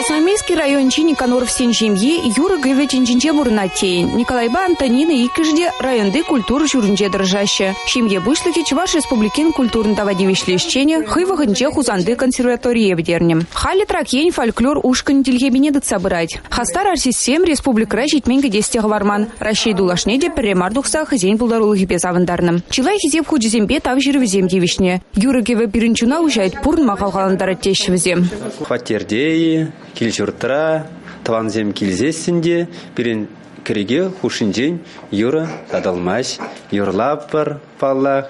Красноармейски районӗнчи Никаноровсен ҫемйи юр кӗвӗ тӗнчинче пурӑнать тейӗн. Николайпа Антонина иккӗшӗ те районти культура ҫуртӗнче тӑрӑшаҫҫӗ. Ҫемье пуҫлӑхӗ Чӑваш Республикин культурӑн тава тивӗҫлӗ ӗҫченӗ хӑй вӑхӑнче Хусанти консерваторие пӗтернӗ. Халӗ Трак ен фольклор ушкӑнӗн тилхепине тытса пырать. Хастар артистсем республикӑра ҫитмен кӗтес те хӑварман. Раҫҫей тулашне те пӗрре мар тухса хӑйсен пултарулӑхӗпе савӑнтарнӑ. Чылай Хисеп хучӗсемпе тав ҫырӑвӗсем тивӗҫнӗ. Юрӑ-кӗвӗ пирӗн чуна уҫать, пурӑнма хавхалантарать теҫҫӗ вӗсем. Хваттерте-и, кил-ҫуртра тӑвансем килсессӗн те пирӗн кӗреке хушшинчен юрӑ татӑлмасть. Юрлатпӑр, паллах.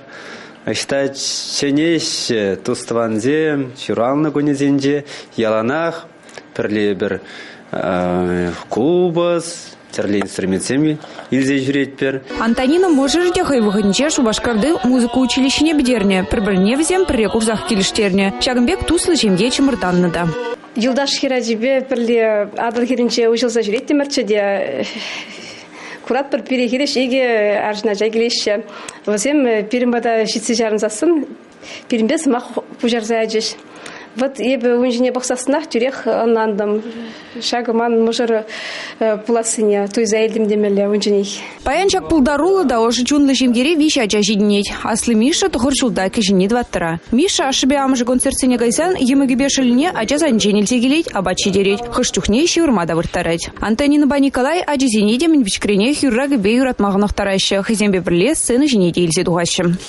Ӑҫта чӗнеҫҫӗ тус-тӑвансем ҫуралнӑ кунӗсенче яланах Пӗрле эпир купӑс, тӗрлӗ инструментсем илсе ҫӳретпӗр. Антонина мӑшӑрӗ те хӑй вӑхӑтӗнче Шупашкарти музыка училищине пӗтернӗ. Пӗр-пӗрне вӗсем пӗрре курсах килӗштернӗ. Ҫакӑн пек туслӑ ҫемье чӑмӑртаннӑ та. Юлташ хӗр ачипе пӗрле Атӑл хӗрринче уҫӑлса ҫӳреттӗмӗрччӗ те куратпӑр пире хирӗҫ икӗ арҫын ача килеҫҫӗ. Вӗсем пирӗн пата ҫитсе чарӑнсассӑн Пирӗнпе сӑмах пуҫарса ячӗҫ. Вот эпӗ ун ҫине пӑхсассынах тӳрех ӑнлантӑм ҫакӑ ман мӑшӑр пулассине туйса илтӗм темелле унчченех. Паян ҫак пултаруллӑ та ӑшӑ чунлӑ ҫемьере виҫӗ ача ҫитӗнет. Асли Миша тӑхӑр ҫулта кӗҫӗнни тӑваттӑра. Миша ашшӗпе амӑшӗ концертсене кайсан йӑмӑкӗпе шӑллӗне ача санчен илсе килет, апат ҫитерет, хӑш чухне ҫывӑрма та вырттарать. Антонинӑпа Николай ачисене те мӗн пӗчкренех юрра-кӗвве юратма хӑнӑхтараҫҫӗ, хӑйсемпе пӗрле сцена ҫине те илсе тухаҫҫӗ.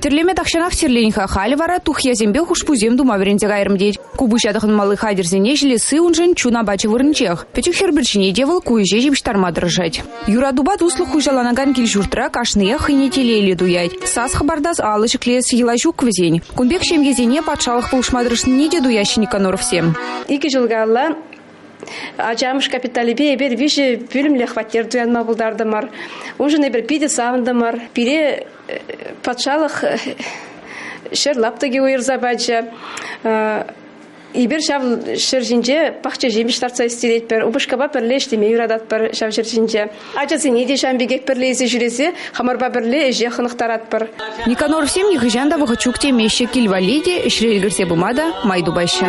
Тӗрлеме тахҫанах чирлен-ха, халь вара тухьясемпе хушпусем тума вӗренсе кайрӑм тет. Ку пуҫа тӑхӑнмалли хатӗрсене ҫӗлесси уншӑн чун апачӗ вырӑнчех. Пӗчӗк хӗр пӗрчине те вӑл ку ӗҫе ҫыпҫтарма тӑрӑшать. Юратупа туслӑх хуҫаланакан кил-ҫуртра кашниех хӑйне телейлӗ туять. Сас хӑпартас алӑ ҫӗклес йӑла ҫук вӗсен. Кун пек ҫемьесене патшалӑх пулӑшма тӑрӑшнине те туяҫҫӗ Никоноровсем. Икӗ ҫул каялла Ача амӑш капиталӗпе эпир виҫӗ пӳлӗмлӗ хваттер туянма пултартӑмӑр. Уншӑн эпир питӗ савӑнтӑмӑр. Пире патшалӑх ҫӗр лаптӑкӗ уйӑрса пачӗ. Эпир ҫав ҫӗр ҫинче пахча ҫимӗҫ лартса ӳстеретпӗр, упӑшкапа пӗрле ӗҫлеме юрататпӑр ҫав ҫӗр ҫинче. Ачасене те ҫавӑн пекех пӗрле илсе ҫӳресе хамӑрпа пӗрле ӗҫе хӑнӑхтаратпӑр. Никаноровсем нихӑҫан та вӑхӑт ҫук темеҫҫӗ. Кил валли те, ӗҫре ӗлкӗрсе пыма та май тупаҫҫӗ.